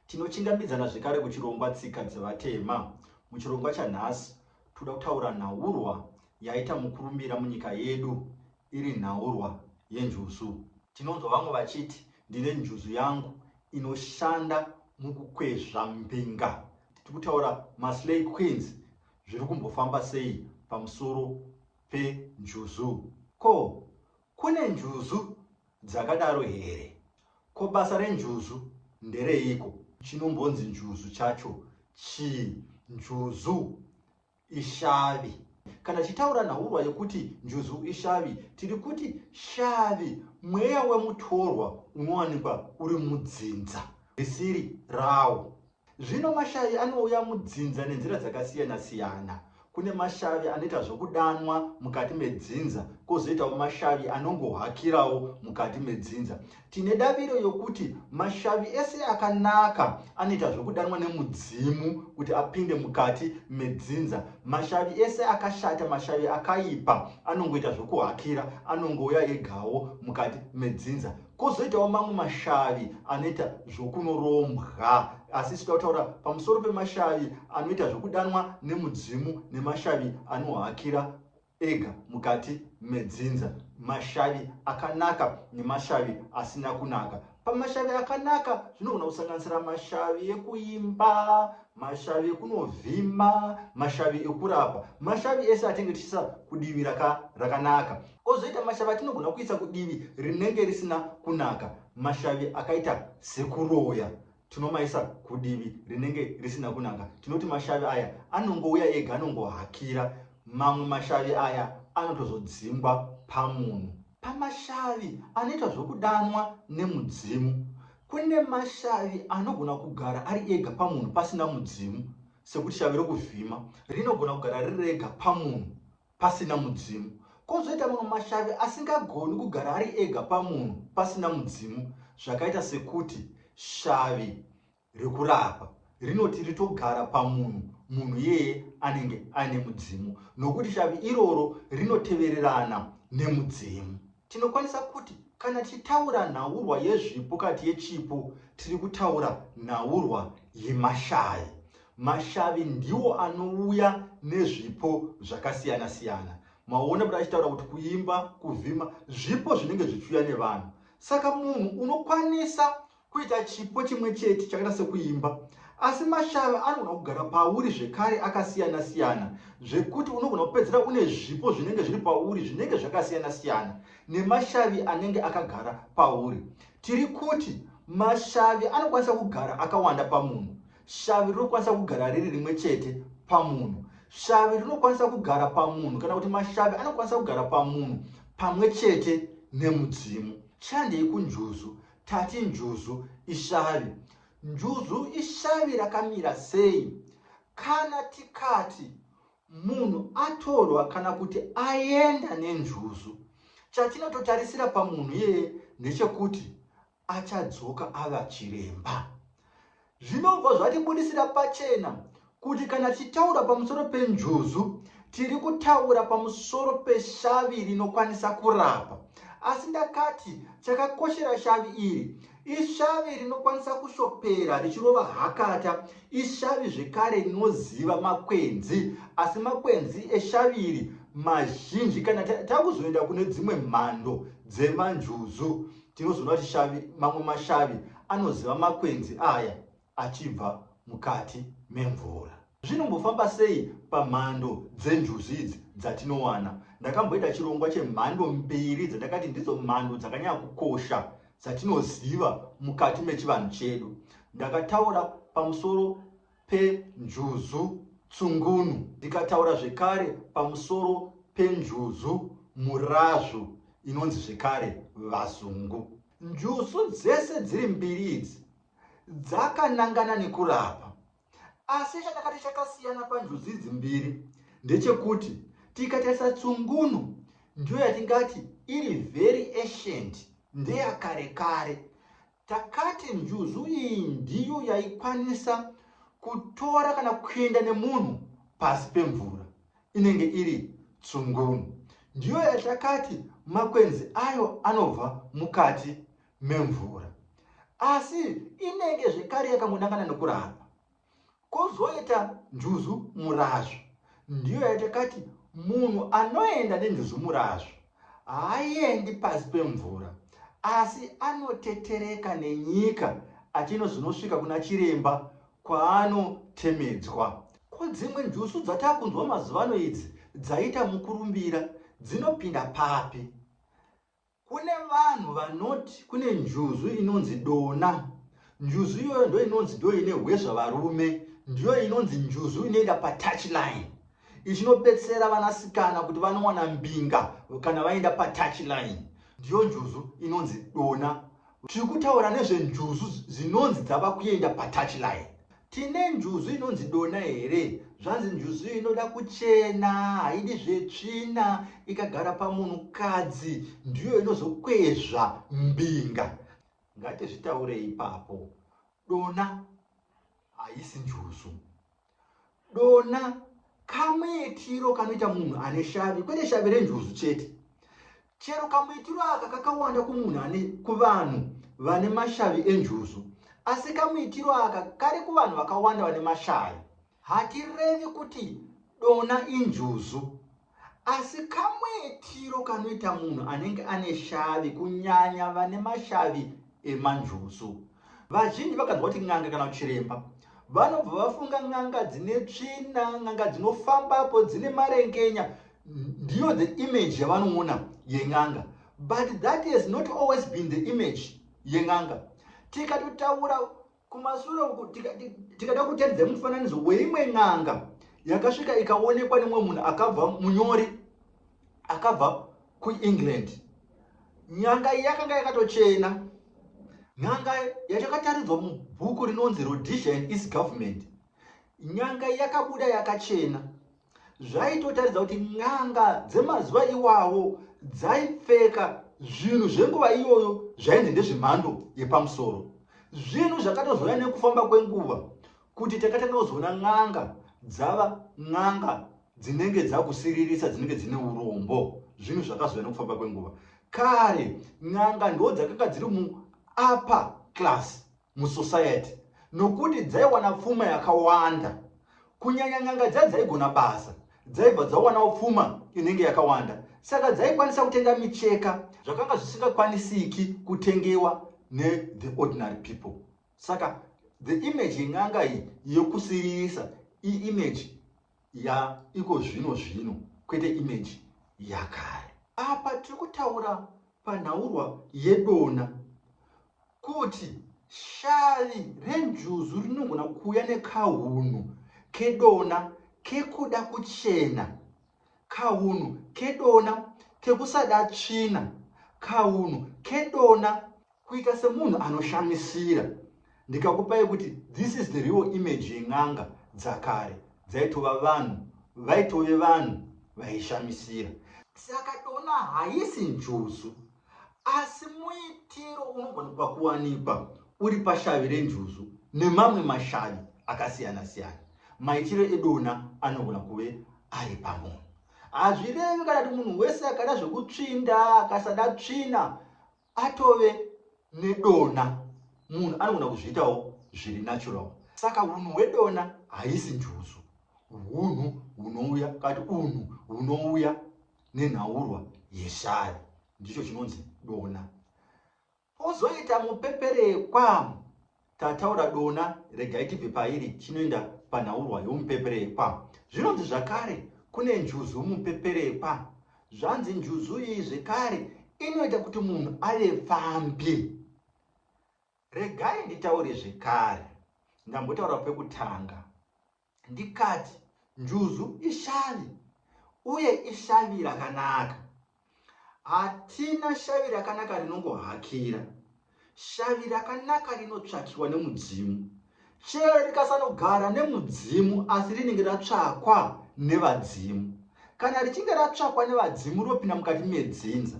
Tinochingamidzana zvekare kuchirongwa Tsika dzevatema. Muchirongwa chanhasi toda kutaura nhaurwa yaita mukurumbira munyika yedu iri nhaurwa yenjuzu. Tinonzwa vamwe vachiti ndine njuzu yangu inoshanda mukukwezva mbinga. Tiri kutaura maSlay Queens zviri kumbofamba sei pamusoro penjuzu. Ko Kune njuzu dzakadaro here? Ko basa renjuzu ndereiko? Chinombonzi njuzu chacho chii? Njuzu ishavi. Kana tichitaura nhaurwa yekuti njuzu ishavi, tiri kuti shavi mweya wemutorwa unowanikwa uri mudzinza risiri rawo. Zvino mashavi anouya mudzinza nenzira dzakasiyana siyana. Kune mashavi anoita zvokudanwa mukati medzinza, kozoitawo mashavi anongohakirawo mukati medzinza. Tine daviro yokuti mashavi ese akanaka anoita zvokudanwa nemudzimu kuti apinde mukati medzinza. Mashavi ese akashata, mashavi akaipa anongoita zvokuhakira, anongouya egawo mukati medzinza. Kozoitawo mamwe mashavi anoita zvokunorombwa. Asi isu tautaura pamusoro pemashavi anoita zvokudanwa nemudzimu nemashavi anohakira ega mukati medzinza, mashavi akanaka nemashavi asina kunaka. Pamashavi akanaka zvinogona kusanganisira mashavi ekuimba, mashavi ekunovhima, mashavi ekurapa. Mashavi ese atinge tichiisa kudivi rakanaka. Kozoita mashavi atinogona kuisa kudivi rinenge risina kunaka. Mashavi akaita sekuroya tinomaisa kudivi rinenge risina kunaka. Tinoti mashavi aya anongouya ega, anongohakira. Mamwe mashavi aya anotozodzingwa pamunhu. Pamashavi anoita zvokudanwa nemudzimu. Kune mashavi anogona kugara ari ega pamunhu pasina mudzimu sekuti shavi rokuvhima rinogona kugara riri rega pamunhu pasina mudzimu. Kozoita mamwe mashavi asingagoni kugara ari ega pamunhu pasina mudzimu zvakaita sekuti shavi rekurapa rinoti ritogara pamunhu munhu iyeye anenge aine mudzimu nokuti shavi iroro rinotevererana nemudzimu. Tinokwanisa kuti kana tichitaura nhaurwa yezvipo kati yechipo tiri kutaura nhaurwa yemashavi. Mashavi ndiwo anouya nezvipo zvakasiyana siyana. Maona kuti achitaura kuti kuimba, kuvhima zvipo zvinenge zvichiuya nevanhu. Saka munhu unokwanisa kuita chipo chimwe chete chakaita sekuimba asi mashavi anogona kugara pauri zvekare akasiyana siyana zvekuti unogona kupedzera une zvipo zvinenge zviri pauri zvinenge zvakasiyana siyana nemashavi anenge akagara pauri tiri kuti mashavi anokwanisa kugara akawanda pamunhu Shavi rinokwanisa kugara riri rimwe chete pamunhu. Shavi rinokwanisa kugara pamunhu kana kuti mashavi anokwanisa kugara pamunhu pamwe chete nemudzimu. Chandei kunjuzu? Tati njuzu ishavi. Njuzu ishavi rakamira sei? Kana tikati munhu atorwa kana kuti aenda nenjuzu, chatinototarisira pamunhu iyeye ndechekuti achadzoka ava chiremba. Zvinobva zvatibudisira pachena kuti kana tichitaura pamusoro penjuzu tiri kutaura pamusoro peshavi rinokwanisa kurapa. Asi ndakati chakakoshera shavi iri ishavi rinokwanisa kushopera richirova hakata, ishavi zvekare rinoziva makwenzi, asi makwenzi eshavi iri mazhinji kana takuzoenda kune dzimwe mhando dzemanjuzu Tinozoona kuti shavi, mamwe mashavi anoziva makwenzi aya achibva mukati memvura. Zvinombofamba sei pamhando dzenjuzu idzi dzatinowana? Ndakamboita chirongwa chemhando mbiri dzandakati ndidzo mhando dzakanyanya kukosha dzatinoziva mukati mechivanhu chedu. Ndakataura pamusoro penjuzu tsungunu. Ndikataura zvekare pamusoro penjuzu murazvu inonzi zvekare vazungu. Njuzu dzese dziri mbiri idzi dzakanangana nekurapa. Asi chakakati chakasiyana panjuzu idzi mbiri ndechekuti tikatarisa tsungunu ndiyo yatingati iri very ancient ndeyakare kare Takati njuzu iyi ndiyo yaikwanisa kutora kana kuenda nemunhu pasi pemvura inenge iri tsungunu. Ndiyo yatakati makwenzi ayo anobva mukati memvura. Asi inenge zvekare yakangonangana nekurarwa. Kozoita njuzu murazvu ndiyo yatakati munhu anoenda nenjuzu murazvu haaendi pasi pemvura asi anotetereka nenyika achinozvinosvika kuna chiremba kwaanotemedzwa. Ko dzimwe njusu dzatakunzwa mazuvano idzi dzaita mukurumbira dzinopinda papi? Kune vanhu vanoti kune njuzu inonzi dona. Njuzu iyoyo ndo inonzi ndo ine hwezva varume. Ndiyo inonzi njuzu inoenda pa touch line. Ichinobetsera vanasikana kuti vanowana mbinga kana vaenda pa touch line. Ndiyo njuzu inonzi dona. Tiri kutaura nezvenjuzu dzinonzi dzava kuenda patouchline. Tine njuzu inonzi dona here? Zvanzi njuzu iyi inoda kuchena, haidi zvetsvina, ikagara pamunhukadzi ndiyo inozokwezva mbinga. Ngatizvitaure ipapo, dona haisi njuzu. Dona kamuitiro kanoita munhu ane shavi kwete shavi renjuzu chete chero kamuitiro aka kakawanda kumunhu ane kuvanhu vane mashavi enjuzu asi kamuitiro aka kari kuvanhu vakawanda vane mashavi hatirevi kuti dona injuzu Asi kamwetiro kanoita munhu anenge ane shavi kunyanya vane mashavi emanjuzu. Vazhinji vakanzwa kuti n'anga kana chiremba vanobva vafunga n'anga dzine tsvina n'anga dzinofambapo dzine marengenya ndiyo the image yavanoona yen'anga but that has not always been the image yen'anga tikatotaura Kumashure uku tikada kutaridza mufananidzo weimwe n'anga yakasvika ikaonekwa nemwe munhu akabva munyori akabva kuengland nyanga iyi yakanga yakatochena nyanga yatakataridzwa mubhuku rinonzi rhodesia and east government nyanga yakabuda yakachena zvaitotaridza kuti n'anga dzemazuva iwawo dzaipfeka zvinhu zvenguva iyoyo zvainzi ndezvemhando yepamusoro zvinhu zvakatozouya nekufamba kwenguva kuti takatanga kuzoona n'anga dzava n'anga dzinenge dzakusiririsa dzinenge dzine urombo zvinhu zvakazouya nekufamba kwenguva kare n'anga ndo dzakanga dziri muupper class musociety nokuti dzaiwana pfuma yakawanda kunyanya n'anga dza dzaigona basa dzaibva dzawanawo pfuma inenge yakawanda saka dzaikwanisa kutenga micheka zvakanga zvisingakwanisiki kutengewa nethe ordinary people saka the image yen'anga iyi yokusiririsa iimage yaiko zvino zvino kwete image yakare apa tiri kutaura panhaurwa yedona kuti shavi renjuzu rinogona kuuya nekahunhu kedona kekuda kuchena kahunhu kedona kekusada tsvina kahunhu kedona Kuita semunhu anoshamisira ndikakupa yekuti this is the real image yen'anga dzakare dzaitova vanhu vaitove vanhu vaishamisira. Saka tona haisi njuzu asi muitiro unogonekwa kuwanikwa uri pashavi renjuzu nemamwe mashavi akasiyana siyana. Maitiro edona anogona kuve ari pamunhu. Hazvirevi kana kuti munhu wese akada zvekutsvinda akasada tsvina atove nedona munhu anogona kuzviitawo zviri natural saka unhu hwedona haisi njuzu unhu hunouya kati unhu hunouya nenhaurwa yeshari ndicho chinonzi dona pozoita mupeperekwa Tataura dona regai tibve pairi chinoenda panhaurwa yomupeperekwa. Zvinonzi zvakare kune njuzu mupeperekwa. Zvanzi njuzu iyi zvekare inoita kuti munhu ave pfambi. Regai nditaure zvekare. Ndambotaura pekutanga. ndikati, Njuzu ishavi, uye ishavi rakanaka. Hatina shavi rakanaka rinongohakira. Shavi rakanaka rinotsvakiwa nemudzimu. Chero rikasanogara nemudzimu, asi rinenge ratsvakwa nevadzimu. Kana richinge ratsvakwa nevadzimu, rinopinda mukati medzinza.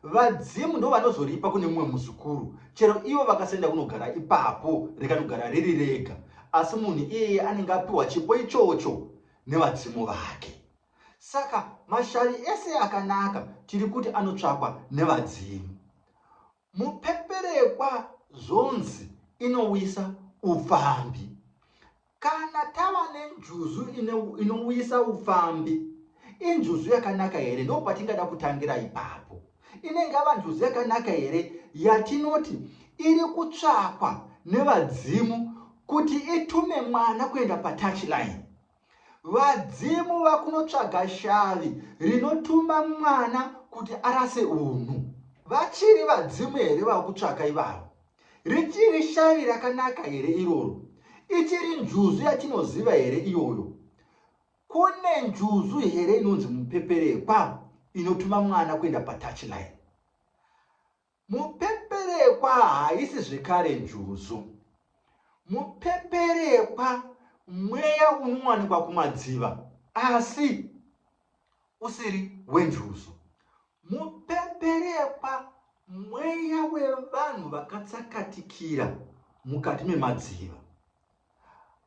Vadzimu ndovanozoripa kune mumwe muzukuru chero ivo vakasenda kunogara ipapo rikanogara riri rega asi munhu iyeye anenge apiwa chipo ichocho nevadzimu vake. Saka mashavi ese akanaka tiri kuti anotsvakwa nevadzimu. Mupeperekwa zvonzi inowisa upfambi. Kana tava nenjuzu inouyisa upfambi, injuzu yakanaka here? Ndipo patingada kutangira ipapo. Inenge yava njuzu yakanaka here yatinoti iri kutsvakwa nevadzimu kuti itume mwana kuenda patouchline? Vadzimu vakunotsvaga shavi rinotuma mwana kuti arase unhu. Vachiri vadzimu here vakutsvaka ivavo? Richiri shavi rakanaka here iroro? Ichiri njuzu yatinoziva here iyoyo? Kune njuzu here inonzi mupeperekwa inotuma mwana kuenda patouchline? Mupeperekwa haisi zvekare njuzu. Mupeperekwa mweya unowanikwa kumadziva asi usiri wenjuzu. Mupeperekwa mweya wevanhu vakatsakatikira mukati memadziva.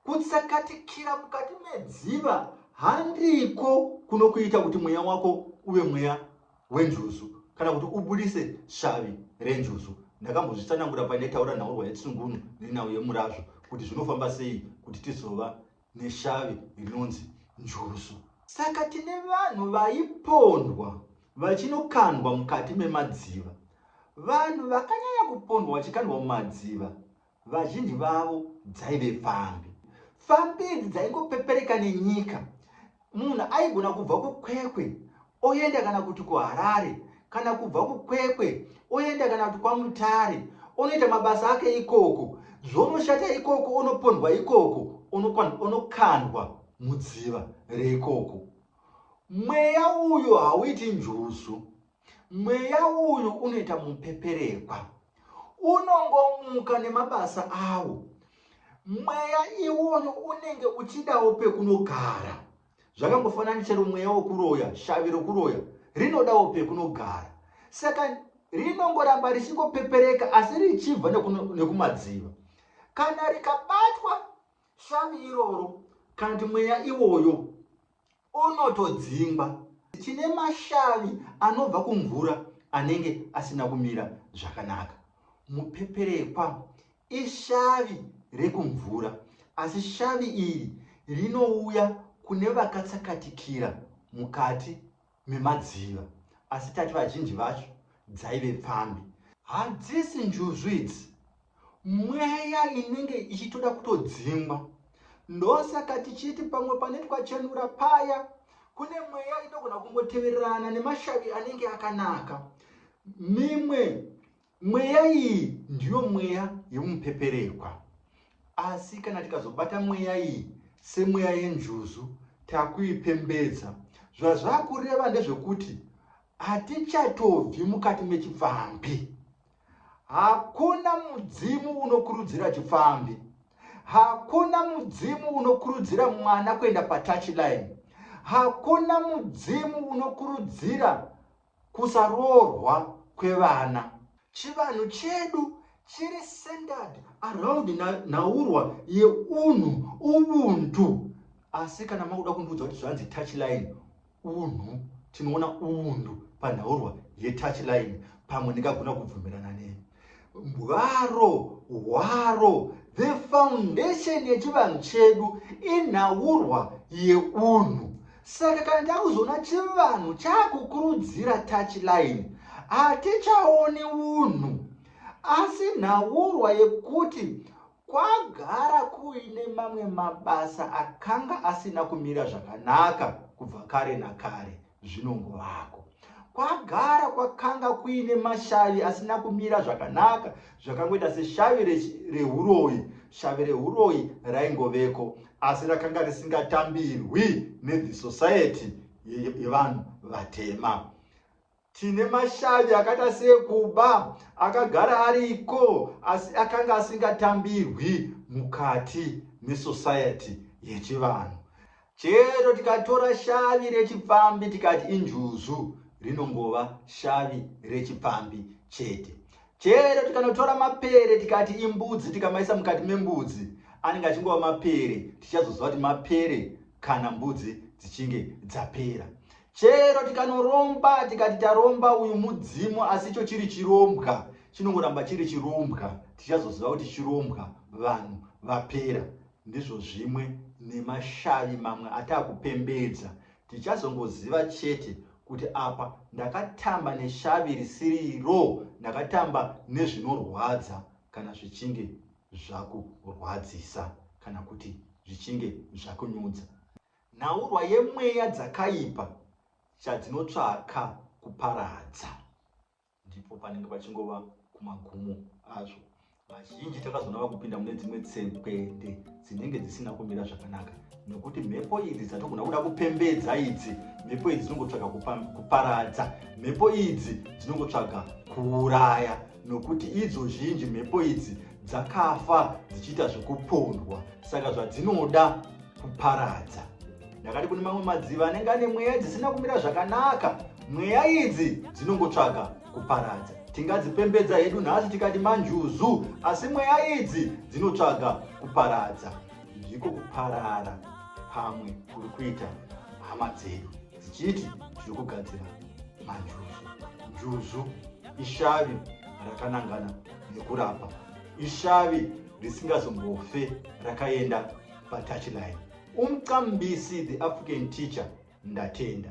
Kutsakatikira mukati medziva handiko kunokuita kuti mweya wako uve mweya wenjuzu kana kuti ubudise shavi renjuzu. Ndakambozvitsanangura paine taura nhaurwa yetsungunu nenhau yemurazvo kuti zvinofamba sei kuti tizova neshavi rinonzi njurusu. Saka tine vanhu vaipondwa vachinokandwa mukati memadziva. Vanhu vakanyanya kupondwa vachikandwa mumadziva vazhinji vavo dzaive pfambi. Pfambi idzi dzaingopepereka nenyika Munhu aigona kubva kuKwekwe oenda kana kuti kuHarare kana kubva kuKwekwe oenda kana kuti kwaMutare onoita mabasa ake ikoko zvonoshata ikoko onopondwa ikoko onokandwa mudziva reikoko. Mweya uyu hauiti njuzu. Mweya uyu unoita mupeperekwa, unongomuka nemabasa awo. Mweya iwoyo unenge uchidawo pekunogara. Zvakangofanana chero mweya wokuroya, shavi rokuroya rinodawo pekunogara. Saka rinongoramba richingopepereka asi richibva nekumadziva. Kana rikabatwa shavi iroro kana kuti mweya iwoyo Unotodzingwa chine mashavi anobva kumvura anenge asina kumira zvakanaka. Mupeperekwa ishavi rekumvura asi shavi iri rinouya kune vakatsakatikira mukati memadziva asi tati vazhinji vacho dzaive pfambi. Hadzisi njuzu idzi mweya inenge ichitoda kutodzingwa ndosaka tichiti pamwe pane twachenura paya kune mweya inogona kungotevererana nemashavi anenge akanaka mimwe mweya iyi ndiyo mweya yemupeperekwa asi kana tikazobata mweya iyi semweya yenjuzu takuipembedza zvazvakureva ndezvekuti hatichatobvi mukati mechipfambi Hakuna mudzimu unokurudzira chipfambi. Hakuna mudzimu unokurudzira mwana kuenda patouch line. Hakuna mudzimu unokurudzira kusaroorwa kwevana. Chivanhu chedu chiri centered around nhaurwa yeunhu, ubuntu. Asi kana makuda kundiudza kuti zvanzi touch line, Unhu, tinoona undu panhaurwa yetouch line pamwe ndingagona kubvumirana ne mbwaro hwaro the foundation yechivanhu chedu inhaurwa yeunhu saka kana takuzoona chivanhu chakukurudzira touch line hatichaoni unhu asi nhaurwa yekuti Kwagara kuine mamwe mabasa akanga asina kumira zvakanaka kubva kare nakare, zvinongovako. Kwagara kwakanga kuine mashavi asina kumira zvakanaka, zvakangoita seshavi rehuroyi. Shavi rehuroyi raingoveko, asi rakanga risingatambirwi neThe Society yevanhu vatema. Tine mashavi akaita seekuba akagara ariko asi akanga asingatambirwi mukati mesociety yechivanhu. Chero tikatora shavi rechipfambi tikati injuzu rinongova shavi rechipfambi chete. Chero tikanotora mapere tikati imbudzi tikamaisa mukati membudzi anenge achingova mapere tichazoziva kuti mapere kana mbudzi dzichinge dzapera. Chero tikanoromba tikati taromba uyu mudzimu asi icho chiri chirombwa chinongoramba chiri chirombwa tichazoziva kuti chirombwa vanhu vapera ndizvo zvimwe nemashavi mamwe ataakupembedza tichazongoziva chete kuti apa ndakatamba neshavi risiriro ndakatamba nezvinorwadza kana zvichinge zvakurwadzisa kana kuti zvichinge zvakunyudza Nhaurwa yemweya dzakaipa chadzinotsvaka kuparadza. Ndipo panenge pachingova kumagumo azvo. Vazhinji takazoona vakupinda mune dzimwe tsekwende dzinenge dzisina kumira zvakanaka nekuti mhepo idzi dzatogona kuda kupembedza idzi mhepo idzi dzinongotsvaga kuparadza mhepo idzi dzinongotsvaga kuuraya nokuti idzo zhinji mhepo idzi dzakafa dzichiita zvekupondwa saka zvadzinoda kuparadza ndakati kune mamwe madziva anenge ane mweya dzisina kumira zvakanaka mweya idzi dzinongotsvaga kuparadza tingadzipembedza hedu nhasi tikati manjuzu asi mweya idzi dzinotsvaga kuparadza ndiko kuparara pamwe kuri kuita hama dzedu dzichiti dziri kugadzira manjuzu njuzu ishavi rakanangana nekurapa ishavi risingazombofe rakaenda patouchline umqambisi the african teacher ndatenda